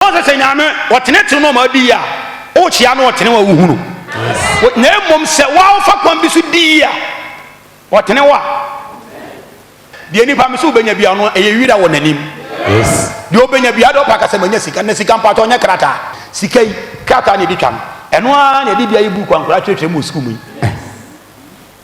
Ɔsɛ sɛ Nyame ɔtenetene no ma ɔdi yie a, wokyea no ɔtene wo a wohu no. Na mmom sɛ wo ara wofa kwan bi so di yie a, ɔtene wo a, deɛ nipa me sɛ wobɛnya bia no ɛyɛ wira wɔ n'anim. Deɛ ɔbɛnya bia de ɔpɛ aka sɛ manya sika, na sika mpaatɔ nyɛ krataa. Sika yi, krataa na ɛdi twa no. Ɛno ara na ɛde bia yi buuku a nkwadaa kyerɛkyerɛ mu wɔ sukuu mu yi.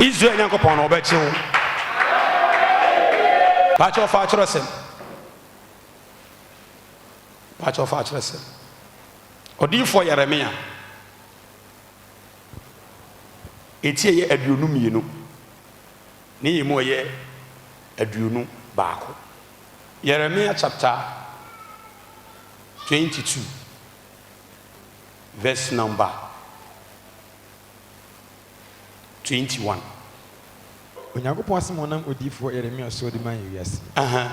Israel Nyankopɔn no ɔbɛgye wo. Pakyɛ ɔfa akyerɛsɛm. Pakyɛ ɔfa akyerɛsɛm. Ɔdiyifoɔ Yeremia eti ɛyɛ aduonu mmienu ne yɛ mu ɛyɛ aduonu baako. Yeremia chapter 22 verse number 21. Onyankopɔn asɛm a ɔnam odiyifoɔ Yeremia so de maa yɛn wiase no,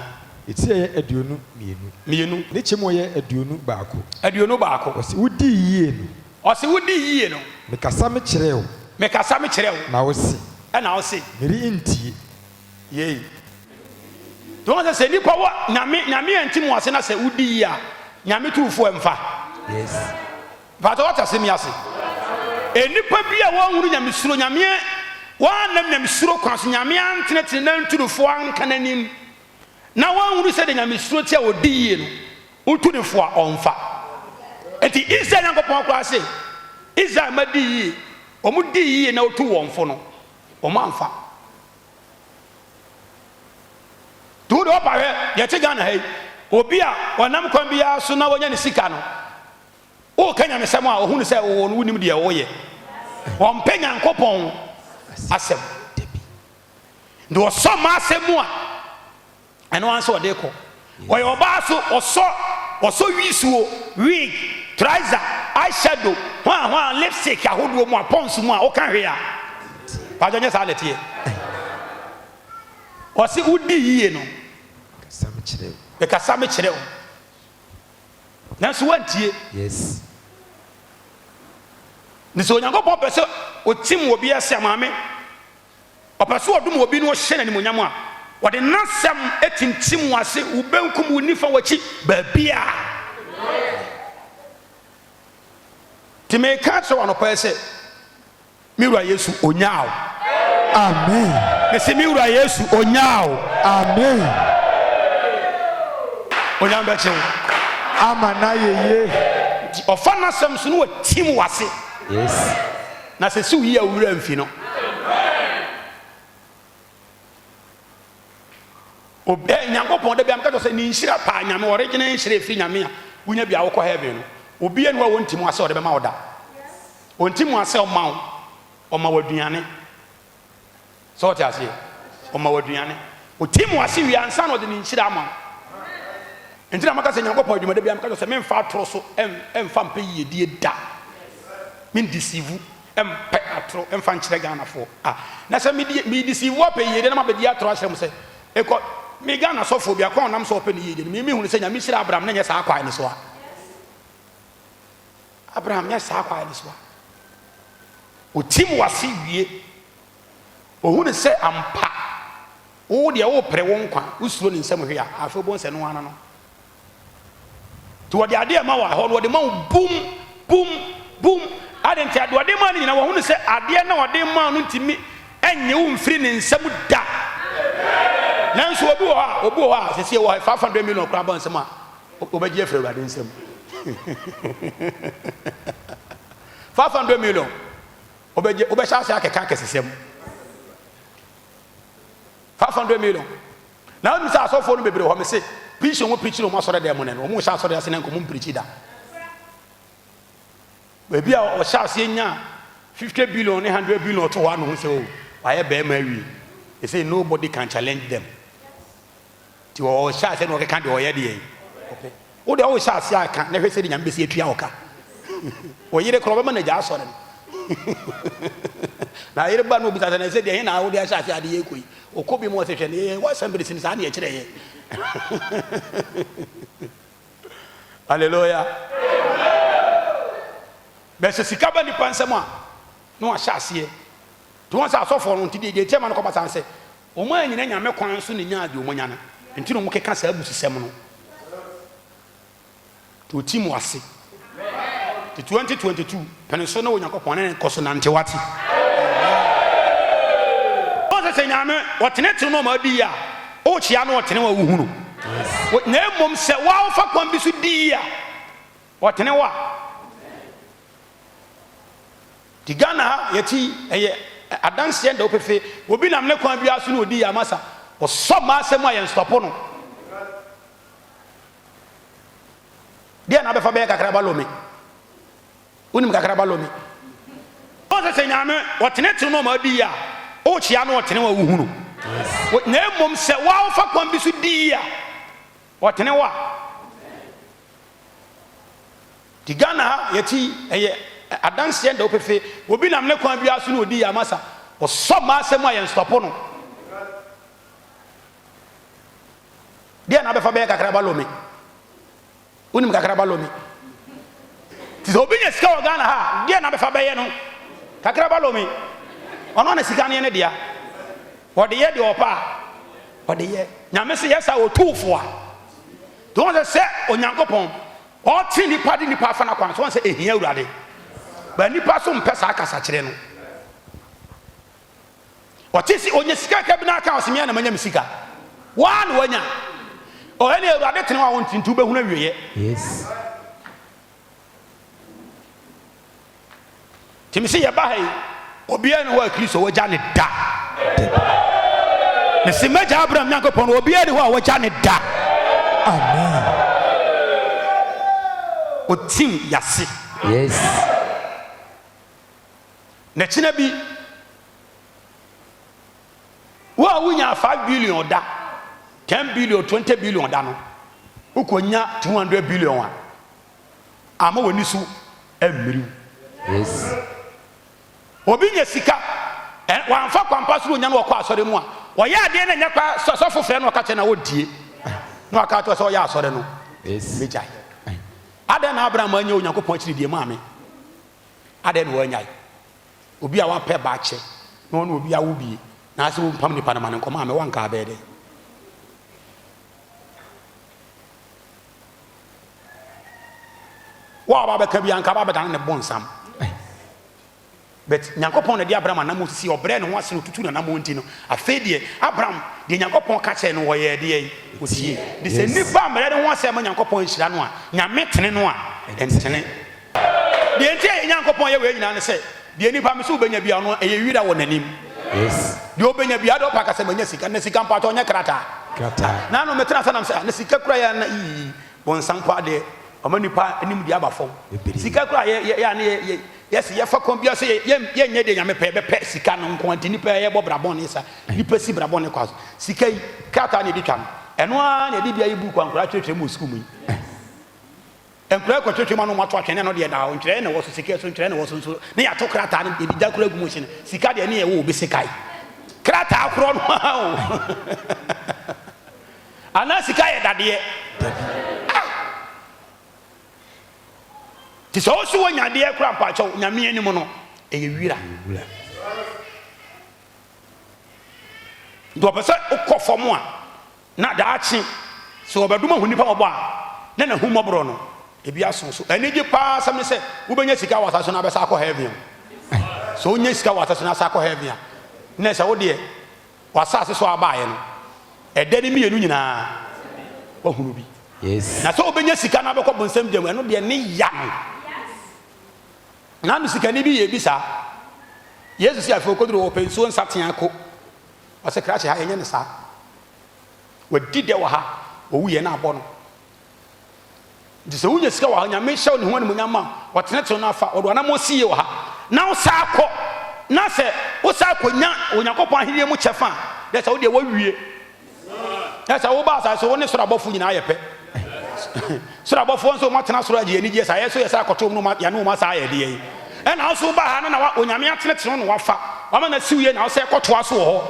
ne ti a ɛyɛ aduonu mmienu, mmienu. ne kyɛm a ɛyɛ aduonu baako. Aduonu baako. Ɔse, Wodi yie no. Ɔse, Wodi yie no. Mekasa mekyerɛɛ wo. Mekasa mekyerɛɛ wo. Na wose. Ɛna wose. Merentie. Yei. Nti wɔn sɛ sɛ nipa wɔ nyame nyame anti mu ase na sɛ wodi yie a nyame tu fo ɛmfa. Yes. Mpakyɛw wate asɛm yi ase? Nnipa bi a wɔnhunu Nyamesuro, Nyame wɔannam Nyamesuro kwan so, Nyame antenetene n'antunufo anka n'anim, na wɔnhunu sɛdeɛ Nyamesuro te a wɔdi yie no, wotu no fo a, ɔmfa. Enti Israel Nyankopɔn koraa se, Israel mma di yie, wɔn dii yie na wotuu wɔn fo no, wɔn amfa. Nti wo deɛ wɔpa hwɛ, deɛ ɛte Ghana ha yi, obi a ɔnam kwan biara so na wɔnya ne sika no, Woka nyamesɛm a ɔhunu sɛ wowɔ no wonim deɛ woyɛ. Ɔmpɛ Nyankopɔn asɛm. Nti ɔsɔ mma asɛm mu a ɛno ara nso ɔde kɔ. Ɔyɛ ɔbaa so ɔsɔ ɔsɔ wisuo, wig, trouser, eyeshadow, hwaa hwaa, lipstick ahodoɔ mu a pons mu a woka hwee a. Paadwa nyɛ saa na ɛteɛ. Ɔse wodi yie no. Mekasa mekyerɛ wo. Nanso woantie. Yes. Nti sɛ Onyankopɔn pɛ sɛ ɔtim obi ase a, maame, ɔpɛ sɛ ɔdom obi na ɔhyɛ no animuonyam a, ɔde n'asɛm tintim wo ase, wo benkum, wo nifa, w'akyi, baabiara. Nti meka kyerɛ wo anɔpa yi sɛ, Me wura Yesu onyaa wo. Amen. Mesi me wura Yesu onyaa wo. Amen. Onyame bɛkye wo. Ama na yeye. Nti ɔfa n'asɛm so no wɔ tim wase. Yes. Na sɛ si wo yie a wo wura mfi no. Ob eh, Nyankopɔn, da bi a meka kyerɛ sɛ ne nhyira paa, Nyame, original nhyira a ɛfiri Nyame a wonya bi a wokɔ heaven no, obiara nni hɔ a ɔnti mu ase a ɔde bɛma wo da. Ɔnti mu ase a ɔma wo, ɔma wo aduane. Sɛ ɔte aseɛ? Ɔma wo aduane. Ɔti mu ase wie ansa na ɔde ne nhyira ama wo. Nti na maka sɛ Nyankopɔn adwuma da bi a meka kyerɛ sɛ memfa atoro so ɛmfa mpɛ yiedie da. Mendisivu. Mpɛ atoro mfa nkyerɛ Ghana foɔ ah na sɛ me die me deceive wa pɛ yie deɛ na ma bɛ di atoro akyerɛ mo sɛ ekɔ me Ghana sɔfoɔ bi a kwan a ɔnam so ɔpɛ ne yie deɛ no me me hunu sɛ Nyame hyira Abraham na nyɛ saa kwae no so ah Abraham nyɛ saa kwae no so ah otim wase wie ohunu sɛ ampa wo deɛ wo pere wo nkwa wo suro ne nsam hwee a afei obohu sɛ no ano no Nti wɔde adeɛ rema wo ahɔ no wɔde ma wo bum bum bum ade nti adeɛ wɔde ma no nyinaa wɔhunu sɛ adeɛ na wɔde ma no ntumi ɛnye wo mfiri ne nsam da nanso obi wɔ hɔ a obi wɔ hɔ a sɛsie wɔ five hundred million koraa bɔ nsɛm a wɔbɛgye afiri awurade nsam five hundred million wɔbɛgye wɔbɛhyɛ ase akɛka akɛsesɛm five hundred million Na me bisa asɔfoɔ no bebree hɔ, me se, Preaching a wɔn preaching wɔ wɔn asɔre dan mu nnɛ no, wɔn nhyɛ asɔre ase na nka wɔn mpreaching da. Baabi a wɔhyɛ aseɛ nya 50 billion ne 100 billion ɔto hɔ ano ho sɛ, oh, wayɛ bɛrima awie. They say nobody can challenge them. Ti wɔhyɛ aseɛ na wɔkeka deɛ wɔyɛ deɛ wɔpɛ. Wo deɛ wo nhyɛ aseɛ anka na hwɛ sɛdeɛ Nyame bɛsi atua wo ka. Wo yere koraa ɔbɛma no agya asɔre no. Na yere ba no obisa sɛ na ɛsɛ deɛ he na wode ahyɛ aseɛ ade yɛ kɔ yi. Ɔkɔ bi mu ɔsɛ hwɛ ne wɔ assemblies no saa ne ɛkyerɛ yɛ. Hallelujah. Bɛ sɛ sika ba nipa nsɛm a na wahyɛ aseɛ. Nti wɔn sɛ asɔfoɔ no nti deɛ deɛ ɛtia ma no kɔba saa sɛ Wɔannyina Nyame kwan so na nyaa deɛ wɔanya no nti na wɔkeka saa abususɛm no. Nti ɔtim mo ase. Nti 2022, pene so ne Onyankopɔn ne no kɔso nante, wate? Wohu sɛ sɛ Nyame ɔtenetene no ma ɔdi yie a, wokyea no ɔtene wo a wohu no. Na mmom sɛ wo a wofa kwan bi so di yie a, ɔtene wo a. Te Ghana ha yɛte yi ɛyɛ adanseɛ dɛw pefee obi nam ne kwan biara so na odi yɛn amasa ɔsɔ mmaa asɛm mu a yɛn stɔpo no deɛ na abɛfa bɛyɛ kakraba lome wonim kakraba lome ɔn sɛ sɛ nyame ɔtene tene no ɔma adi yi a wokyea no ɔtene wa wohu no na mmom sɛ woawofa kwan bi so di yi a ɔtene wa Nti Ghana ha yɛte yi ɛyɛ adanseɛ nda wo pefee obi nam ne kwan biara so na odi yama sa ɔsɔ mmaa asɛm a yɛn stɔpo no deɛ na abɛfa bɛyɛ kakraba lomi wonim kakraba lomi nti sɛ obi nya sika wɔ Ghana ha deɛ na abɛfa bɛyɛ no kakraba lomi ɔno na sika no yɛ ne dea wɔde yɛ deɛ ɔpɛ a wɔde yɛ nyame se yɛ sa wɔtuufoɔ a Nti wohu sɛ, sɛ Onyankopɔn ɔte nnipa de nnipa afa n'akwan so, wohu sɛ ɛhia Awurade. But nnipa nso mpɛ saa kasakyerɛ no. Ɔte se ɔnya sika kakra bi na aka ɔse mea na manya me sika. Waa na wanya. Ɔhɛ ne Awurade tene hɔ a ɔnte nti wobɛhunu awieɛ. Yes. Timi se yɛba ha yi obiaa ni hɔ a Kristo wagya ne da dabi mese magya Abraham Nyankopɔn obiaa ni hɔ a wagya ne da amen otim yase yes na kyena bi Wo a wunyaa five billion da, ten billion, twenty billion da no, wukonya two hundred billion a, ama w'ani so ammiriw. Yes. Obi nya sika, ɛ- wamfa kwampa so na onya no ɔkɔ asɔre mu a, ɔyɛ adeɛ na ɛnyɛ kwa sɛ sɔfo frɛ no ɔka kyerɛ na ɔntie. Na waka ato sɛ ɔyɛ asɔre no, Yes. megyae. Adɛn na Abraham anya Onyankopɔn akyiridie maame? Adɛn na wanyae? obi a wapɛ ba akyɛ na ɔne obi awo bi na asɛ wompam nipa no ma no nkɔma a mewɔ anka abɛyɛ dɛn? Wo a wabɛka bi anka abɛda ne bɔ nsam. But Nyankopɔn na de Abraham anam si ɔbrɛ ne ho ase na otutu n'anam nti no. Afei deɛ Abraham deɛ Nyankopɔn ka kyerɛ no wɔyɛ deɛ osie. De sɛ nipa mmerɛ ne ho ase ama Nyankopɔn nhyira no a, Nyame tene no a, ɛntene. Deɛ nti a yɛn Nyankopɔn yɛ wei nyinaa ne sɛ, deɛ nipa pɛ sɛ ɔbɛnya biara no, ɛyɛ wira wɔ n'anim. Deɛ ɔbɛnya biara, deɛ ɔpɛ ka sɛ, Manya sika. Na sika mpaatɔ, ɛnyɛ krataa. Na ano metena ase nam sɛ, Ah, na sika kura yɛ a na ii, bɔnsam paa deɛ, wama nipa anim deɛ aba fam. Sika kura yɛ yɛ a na yɛ yɛse yɛfa kwan biara so yɛ yɛnyɛ deɛ Nyame pɛ, yɛbɛpɛ sika no nko ara nti nipa yɛbɔ bra bɔne sa. Nipa si bra bɔne kwa so. Sika yi, krataa na yɛde twa no. Ɛno ara na yɛde bi ayi book a nkwadaa kyerɛkyerɛ mu wɔ sukuu mu yi. Nkura kɔtwetwe ma no ma to atwene no deɛ daa hɔ ntwerɛɛ na ɛwɔ so sika so ntwerɛɛ na ɛwɔ so nso ne yɛato krataa no yɛde gya koro agu mu hyene sika deɛ ne yɛwɔ obi sekae krataa korɔ no aa o anaa sika yɛ dadeɛ dabi ah te sɛ ɔsi wɔ nyadeɛ kora mpaakyɛw nyame anim no ɛyɛ wira nti ɔpɛ sɛ wokɔ fam a Na daakye, sɛ wɔbɛdom ahu nnipa mmɔbɔ a, na n'ahummɔborɔ no, ebi aso. So anigye paa ara asɛm ne sɛ wobɛnya sika wɔ asase so na abɛsan akɔ heaven? Sɛ wonya sika wɔ asase so na asan akɔ heaven a, na ɛsɛ wo deɛ w'asase so a wobaeɛ no, ɛdɛ ne mmienu nyinaa woahunu bi. Na sɛ wobɛnya sika na abɛkɔ bonsam gya mu, ɛno deɛ ne ya no. Nano sikani bi yɛɛ bi saa. Yesu se afei ɔkɔduru hɔ, ɔpɛ nsuo nsateaa ko. Ɔsekrase ha, yɛnyɛ no saa. Wadi dɛ wɔ ha, owu yɛ na abɔ no. Nti sɛ wonya sika wɔ ha, Nyame hyɛ ne ho animuonyam ma wɔtenetew no afa, wɔde w'anammɔn si yie wɔ ha, na wosan kɔ, na sɛ wosan konya Onyankopɔn ahenni mu kyɛfa a, na ɛsɛ wo deɛ woawie. Na sɛ woba asase so, wo ne soro abɔfo nyinaa yɛ pɛ. Soro abɔfoɔ nso wɔn atena soro agye anigyeɛ saa, yɛ nso yɛ saa kɔto wɔn na yɛane wɔn asa ayɛ ɛdeɛ yi? Ɛna wo nso woba ha no na wa, Onyame atenetene wo na wafa, wama no asiw yie na wosɛ kɔtoa so wɔ hɔ.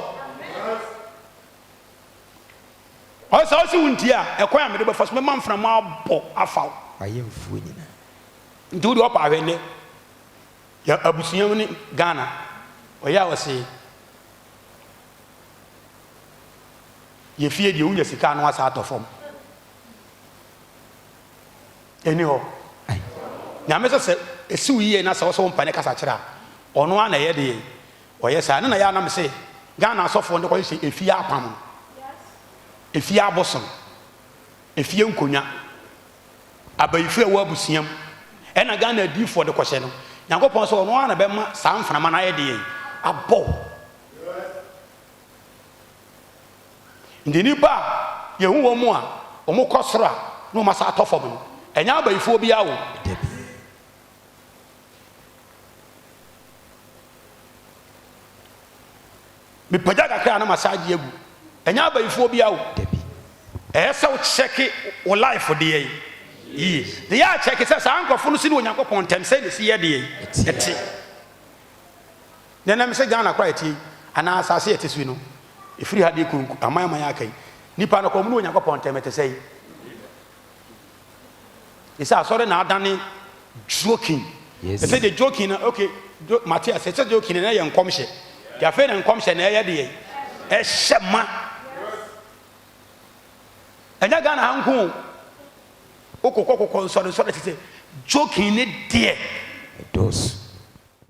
Ɔsɛ sɛ wose wontie a, ɛkwan a mede bɛfa so, mɛma mframa abɔ afa wo. W'ayɛnfoɔ nyina. Nti wodeɛ ɔpa ahwɛ nnɛ, yɛ abusua mu ne Ghana, ɔyɛ a ɔsee. Yɛ fie deɛ wonya sika ano asan atɔ fam ɛni hɔ Nyame sɛ sɛ ɛsiw yie na sɛ wosɛ wo mpane kasa kyerɛ a ɔno ara na ɛyɛ deɛ ɔyɛ saa ɛno na yɛ a na me se Ghana asɔfoɔ no kɔhyehyɛ ɛfie apam no ɛfie abosom ɛfie nkonwa abayifo ɛwɔ abusua mu ɛna Ghana adiifoɔ de kɔhyɛ no Nyankopɔn sɛ ɔno ara na bɛma saa mframa no ayɛ deɛ abɔ Nti nnipa a yɛhu wɔn a wɔkɔ soro a na wɔasan atɔ fam no, ɛnyɛ abayifoɔ biara wɔ mu. Da bi, mepagya kakra a na masan agye agu, ɛnyɛ abayifoɔ biara wɔ mu. Da bi, ɛyɛ sɛ wo kyɛke wo life deɛ yie na yɛ akyɛke sɛ saa nkorɔfoɔ no si ne Onyankopɔn ntɛm sɛdeɛ ɛsi yɛ deɛ yi ɛte. Nea na ɛsɛ Ghana koraa a ɛteɛ yi, anaa asase a ɛte so yi no, ɛfiri ha de kɔ aman aman a aka yi. Nnipa no, kɔm ne Onyankopɔn ntam ɛte sɛn? Te sɛ asɔre na adane joking. Yes. Ɛsɛ deɛ joking na, okay, jo, mate ase, ɛsɛ joking na ɛyɛ nkɔmhyɛ. Deɛ afei na nkɔmhyɛ na ɛyɛ deɛ, ɛhyɛ ma. Ɛnyɛ Ghana ha nko o. Wokɔkɔ kokɔ nsɔre nsɔre te sɛ joking ne deɛ. Ɛdɔɔso.